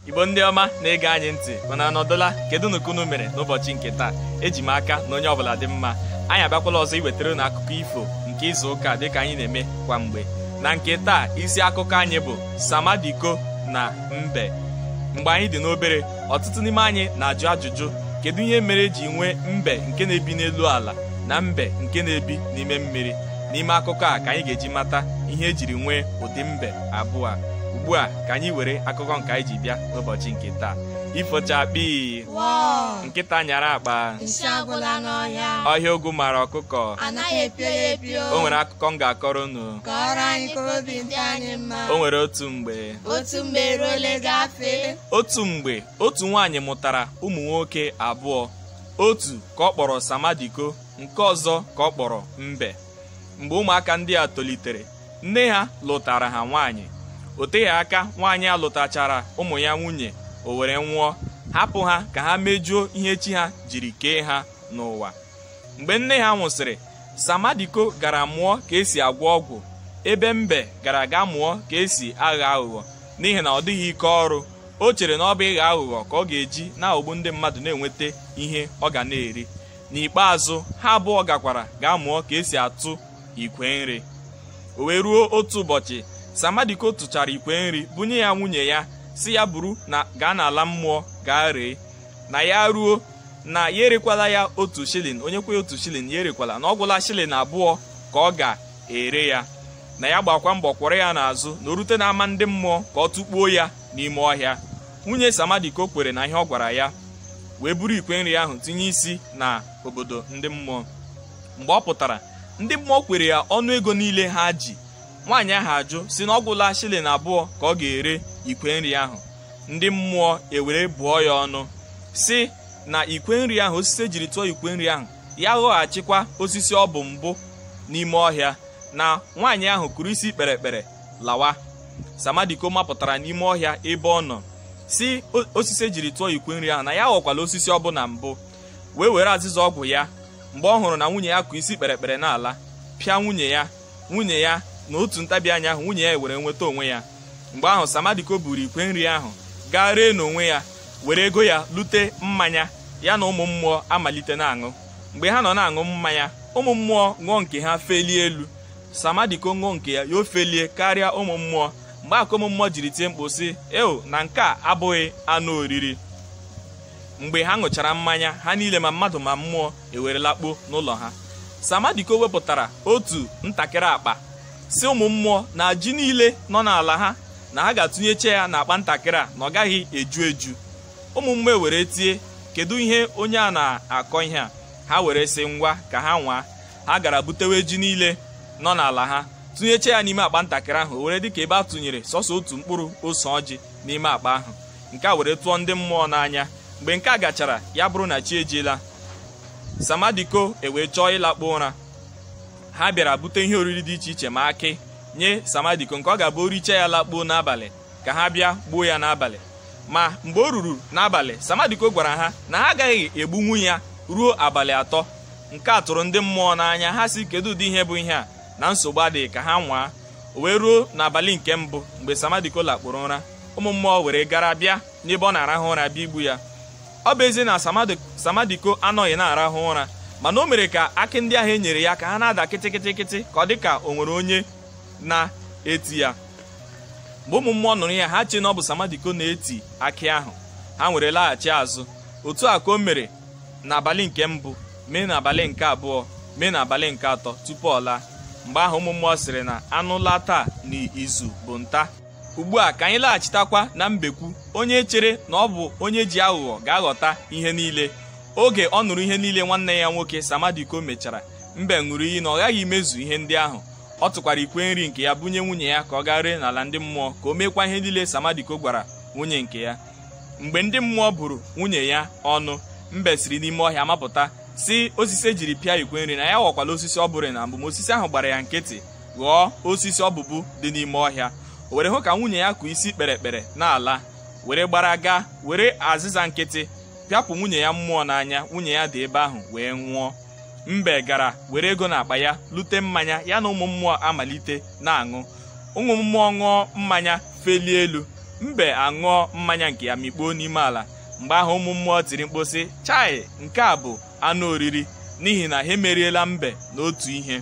igbo ndị ọma na-ege anyị ntị unu anọdụla kedunu ka unu mere n'ụbọchị nke taa eji m aka na onye ọbụla dị mma anyị abịakwala ọzọ iwetara unu akụkọ ifo nke izu ụka dịka anyị na-eme kwa mgbe na nke taa isi akụkọ anyị bụ samadiko na mbe mgbe anyị dị n'obere ọtụtụ n'ime anyị na-ajụ ajụjụ kedu ihe mere eji nwee mbe nke na-ebi n'elu ala na mbe nke na-ebi n'ime mmiri n'ime akụkọ a ka anyị ga-eji mata ihe ejiri nwee ụdị mbe abụọ a ugbu a ka anyị were akụkọ nke anyị ji bịa n'ụbọchị nke taa ifo chakpii nkịta nyara akpa ọhịa ogwu mara ọkụkọ o nwere akụkọ m ga-akọrọ unu kọọrọ anyị ka obi dị anyị mma o nwere otu mgbe otu mgbe otu mgbe otu nwaanyị mụtara ụmụ nwoke abụọ otu ka ọ kpọrọ samadiko nke ọzọ ka ọ kpọrọ mbe mgbe ụmụaka ndị a tolitere nne ha lụtara ha nwaanyị o teghị aka nwaanyị a lụtachara ụmụ ya nwunye o were nwụọ hapụ ha ka ha mejuo ihe chi ha jiri kee ha n'ụwa mgbe nne ha nwụsịrị samadiko gara mụọ ka esi agwọ ọgwụ ebe mbe gara ga mụọ ka esi agha aghụghọ n'ihi na ọ dịghị ike ọrụ o chere na ọ bụ ịgha aghụghọ ka ọ ga-eji na-aghọgbu ndị mmadụ na-enweta ihe ọ ga na-eri n'ikpeazụ ha abụọ gakwara ga mụọ ka esi atụ ikwe nri o wee ruo otu ụbọchị samadiko tụchara ikwe nri bunye ya nwunye ya sị ya buru gaa n'ala mmụọ gaa ree na ya ruo na ya erekwala ya otu shilling onye kwe otu shilling ya erekwala na ọ gwụla shilling abụọ ka ọ ga-ere ya na ya gbakwa mbọ kwọrọ ya n'azụ na o rute n'ama ndị mmụọ ka ọ tụkpuo ya n'ime ọhịa nwunye samadiko kwere na ihe ọ gwara ya wee buru ikwe nri ahụ tinye isi na obodo ndị mmụọ mgbe ọ pụtara ndị mmụọ kwere ya ọnụ ego niile ha ji nwaanyị ahụ ajụ sị na ọ gwụla shilling abụọ ka ọ ga-ere ikwe nri ahụ ndị mmụọ ewere bụọ ya ọnụ sị na ikwe nri ahụ osisi ejiri tụọ ikwe nri ahụ ya ghọghachikwa osisi ọ bụ mbụ n'ime ọhịa na nwaanyị ahụ kụrụ isi kpere ekpere lawa samadiko mapụtara n'ime ọhịa ebe ọ nọ sị osisi ejiri tụọ ikwe nri ahụ na ya ghọkwala osisi ọ bụ na mbụ wee were azịza ọgwụ ya mgbe ọ hụrụ na nwunye ya kụ isi kpere ekpere n'ala pịa nwunye ya nwunye ya na otu ntabi anya ahụ nwunye ya ewere nweta onwe ya mgbe ahụ samadiko buru ikwe nri ahụ gaa ree n'onwe ya were ego ya lute mmanya ya na ụmụ mmụọ amalite na-aṅụ mgbe ha nọ na-aṅụ mmanya ụmụ mmụọ ṅụọ nke ha felie elu samadiko ṅụọ nke ya ya efelie karịa ụmụ mmụọ mgbe a ka ụmụ mmụọ jiri tie mkpu sị eo na nke a abụghị anụ oriri mgbe ha ṅụchara mmanya ha niile ma mmadụ ma mmụọ ewere lakpuo n'ụlọ ha samadiko wepụtara otu ntakịrị akpa sị ụmụ mmụọ na ji niile nọ n'ala ha na ha ga-atụnyecha ya n'akpa ntakịrị a na ọ gaghị eju eju ụmụ mmụọ were tie kedu ihe onye a na-akọ ihe a ha were sị ngwa ka ha nwaa ha gara butewe ji niile nọ n'ala ha tụnyecha ya n'ime akpa ntakịrị ahụ o were dịka ebe a tụnyere sọsọ otu mkpụrụ ose ọjị n'ime akpa ahụ nke a were tụọ ndị mmụọ n'anya mgbe nke a gachara ya bụrụ na chi ejiela samadiko ewee chọọ ịlakpu ụra ha bịara bute ihe oriri dị iche iche ma akị nye samadiko nke ọ ga-abụ o richa ya lakpuo n'abalị ka ha bịa gbuo ya n'abalị ma mgbe o ruru n'abalị samadiko gwara ha na ha agaghị egbunwu ya ruo abalị atọ nke a tụrụ ndị mmụọ n'anya ha sị kedu ụdị ihe bụ ihe a na nsogbu adịghị ka ha nwaa o wee ruo n'abalị nke mbụ mgbe Samadiko lakpuru ụra ụmụ mmụọ were gara bịa n'ebe ọ na-arahụ ụra bịa igbu ya ọ bụ ezie na Samadiko anọghị na-arahụ ụra mana o mere ka akị ndị ahụ e nyere ya ka ha na-ada kịtịkịtịkịtị ka ọ dị ka o nwere onye na-eti ya mgbe ụmụ mmụọ nụrụ ya ha chee na ọ bụ Samadiko na-eti akị ahụ ha were laghachi azụ otu a ka o mere n'abalị nke mbụ mee n'abalị nke abụọ mee n'abalị nke atọ tupu ọ laa mgbe ahụ ụmụ mmụọ sịrị na anụ laa taa n'izu bụ nta ugbu a ka anyị laghachitakwa na mbekwu onye chere na ọ bụ onye ji aghụghọ ga-aghọta ihe niile oge ọ nụrụ ihe niile nwanne ya nwoke samadiko mechara mbe ṅụrụ iyi na ọ ghaghị imezu ihe ndị ahụ ọ tụkwara ikwe nri nke ya bunye nwunye ya ka ọ gaa ree n'ala ndị mmụọ ka o meekwa ihe niile samadiko gwara nwunye nke ya mgbe ndị mmụọ bụrụ nwunye ya ọnụ mbe siri n'ime ọhịa mapụta sị osisi e jiri pịa ikwe nri na ya ghọkwala osisi ọ bụrụ na mbụ ma osisi ahụ gbara ya nkịtị ghọọ osisi ọ bụbu dị n'ime ọhịa o were hụ ka nwunye ya kụ isi kpere ekpere n'ala were gbara gaa were azịza nkịtị pịapụ nwunye ya mmụọ n'anya nwunye ya daa ebe ahụ wee nwụọ mbe gara were ego n'akpa ya lute mmanya ya na ụmụ mmụọ amalite na-aṅụ ụmụ mmụọ ṅụọ mmanya felie elu mbe aṅụọ mmanya nke ya mikpuo n'ime ala mgbe ahụ ụmụ mmụọ tiri mkpu sị chai nke a bụ anụ oriri n'ihi na ha emeriela mbe n'otu ihe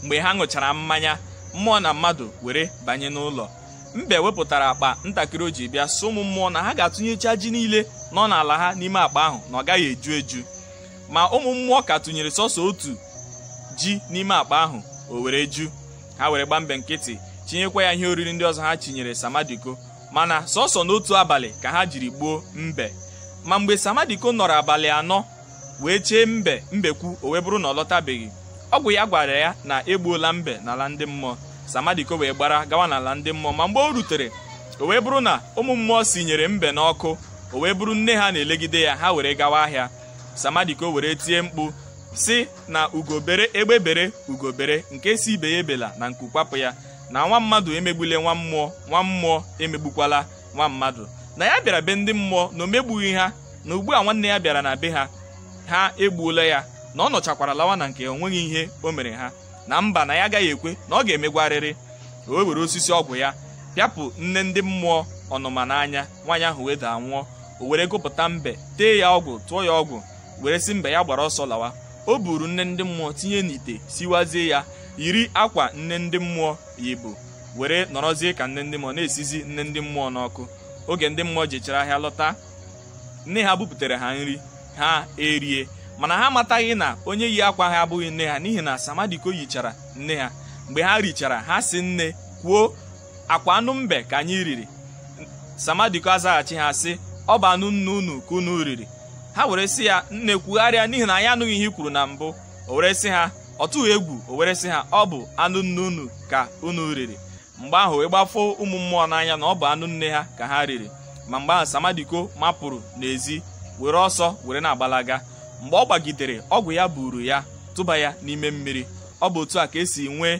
mgbe ha ṅụchara mmanya mmụọ na mmadụ were banye n'ụlọ mbe wepụtara akpa ntakịrị o ji bịa sị ụmụ mmụọ na ha ga-atụnyecha ji niile nọ n'ala ha n'ime akpa ahụ na ọ gaghị eju eju ma ụmụ mmụọ ka tụnyere sọsọ otu ji n'ime akpa ahụ o were ju ha were gba mbe nkịtị chinyekwa ya ihe oriri ndị ọzọ ha chinyere samadiko mana sọsọ n'otu abalị ka ha jiri gbuo mbe ma mgbe samadiko nọrọ abalị anọ wee chee mbe mbekwu o wee bụrụ na ọ lọtabeghị ọgwụ ya gwara ya na e gbuola mbe n'ala ndị mmụọ samadiko wee gbara gawa n'ala ndị mmụọ ma mgbe o rutere o wee bụrụ na ụmụ mmụọ sinyere mbe n'ọkụ o wee bụrụ nne ha na-elegide ya ha were gawa ahịa samadiko were tie mkpu sị na ugo bere egbe bere ugo bere nke sị ibe ya ebela na nku kwapụ ya na nwa mmadụ emegbule nwa mmụọ nwa mmụọ emegbukwala nwa mmadụ na ya bịara be ndị mmụọ na o megbughị ha na ugbu a nwanne ya bịara na be ha ha egbuola ya na ọ nọchakwara lawa na nke o nweghị ihe o mere ha na mba na ya agaghị ekwe na ọ ga-emegwarịrị o were osisi ọgwụ ya pịapụ nne ndị mmụọ ọnụma n'anya nwaanyị ahụ wee daa nwụọ o were gupụta mbe tee ya ọgwụ tụọ ya ọgwụ were sị mbe ya gbara ọsọ lawa o buru nne ndị mmụọ tinye n'ite siwazie ya yiri akwa nne ndị mmụọ yibu were nọrọzie ka nne ndị mmụọ na-esizi nne ndị mmụọ n'ọkụ oge ndị mmụọ jechara ahịa lọta nne ha buputere ha nri ha erie mana ha amataghị na onye yi akwa ha abụghị nne ha n'ihi na samadiko yichara nne ha mgbe ha richara ha sị nne kwuo ọ kwa anụ mbe ka anyị riri samadiko azaghachi ha sị ọ bụ anụ nne unu ka unu riri ha were sị ya nne kwugharịa n'ihi na anyị anụghị ihe i kwuru na mbụ o were sị ha ọ tụghị egwu o were sị ha ọ bụ anụ nne unu ka unu riri mgbe ahụ wee gbafo ụmụ mmụọ n'anya na ọ bụ anụ nne ha ka ha riri ma mgbe ahụ samadiko mapụrụ n'ezi were ọsọ were na-agbalaga mgbe ọ gbagidere ọgwụ ya buru ya tụba ya n'ime mmiri ọ bụ otu a ka e si nwee